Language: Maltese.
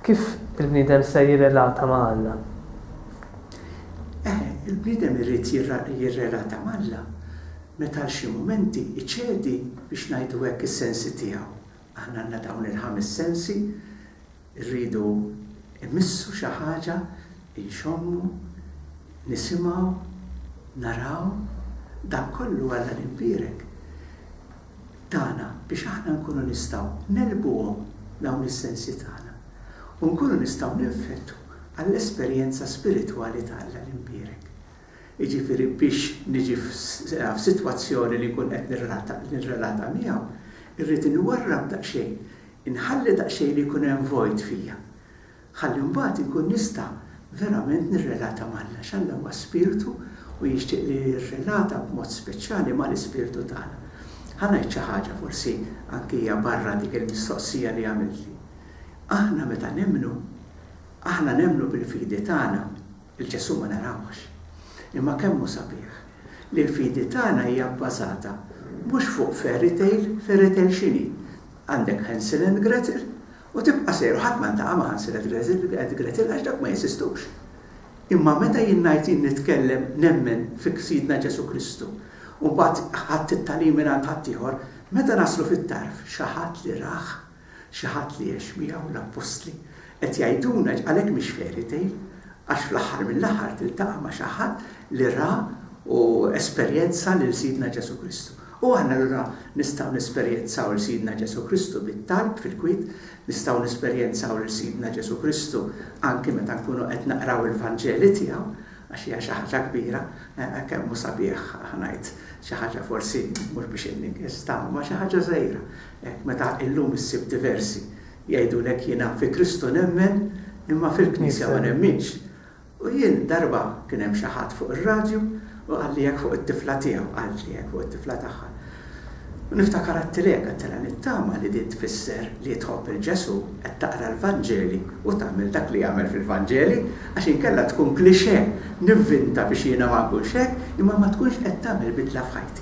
Kif il-bniedem ser jirrelata ma' Alla? Eh, il-bniedem irrid jirrelata ma' Alla meta xi mumenti iċedi biex ngħidu hekk is-sensi tiegħu. Aħna għandna dawn il-ħames sensi Irridu immissu xi ħaġa, inxommu, nisimgħu, naraw, dan kollu Alla l-Imbierek tana biex aħna nkunu nistgħu negħlbuhom dawn is-sensi tagħna u nkunu nistgħu ninfettu għall-esperjenza spiritwali ta' Alla l-Imbierek. Jiġifieri biex niġi f'sitwazzjoni li nkun qed nirrelata miegħu, irrid inwarrab daqsxejn Inħalli daqsxejn li jkun hemm vojt fija, ħalli mbagħad inkun nista' verament nirrelata m'Alla, għax Alla huwa Spirtu u jixtieq li nirrelata b'mod speċjali mal-ispirtu tagħna. Ħa ngħid xi ħaġa forsi anki hija barra dik il-mistoqsija li għamiltli. Aħna meta nemmnu, aħna nemmnu bil-fidi tagħna. Lil Ġesù ma narawhx. Imma kemm hu sabiħ li l-fidi tagħna hija bbażata mhux fuq fairy tale, fairy tale x'inhi? Għandek Hansel and Gretel u tibqa' sejjer u ħadd ma ltaqa' ma' Hansel and Gretel and Gretel għax dawk ma jeżistux. Imma meta jien ngħid jien nitkellem nemmen fi Sidna Ġesù Kristu u mbagħad ħadt it-tagħlim mingħand ħaddieħor, meta naslu fit-tarf xi ħadd li rah, Xi ħadd li għex miegħu l-appostli. Qed jgħiduna għalhekk mhix fairy tale għax fl-aħħar mill-aħħar tiltaqa' ma' xi ħadd li ra u esperjenza lil Sidna Ġesù Kristu. U aħna allura nistgħu nesperjenzaw lil Sidna Ġesù Kristu bit-talb fil-kwiet, nistgħu nesperjenzaw lil Sidna Ġesù Kristu anki meta nkunu qed naqraw il-Vanġeli tiegħu għax hija xi ħaġa kbira, eh, kemm hu sabiħ ħanajt xi ħaġa forsi mhux biex inninkis ma xi ħaġa żgħira. Hekk meta illum issib diversi jgħidulek jiena fi Kristu nemmen imma fil-Knisja ma nemminx. U jien darba kien hemm xi ħadd fuq ir-radju u qalli hekk fuq it-tifla tiegħu, qaltli hekk fuq it-tifla tagħha. U niftakar għadtilha hekk, għadtilha nittama li din tfisser li tħobb 'il Ġesù, qed taqra l-Vanġeli u tagħmel dak li jagħmel fil-Vanġeli għax inkella tkun cliché nivvinta biex jiena ma nkunx hekk imma ma tkunx qed tagħmel bidla f'ħajti.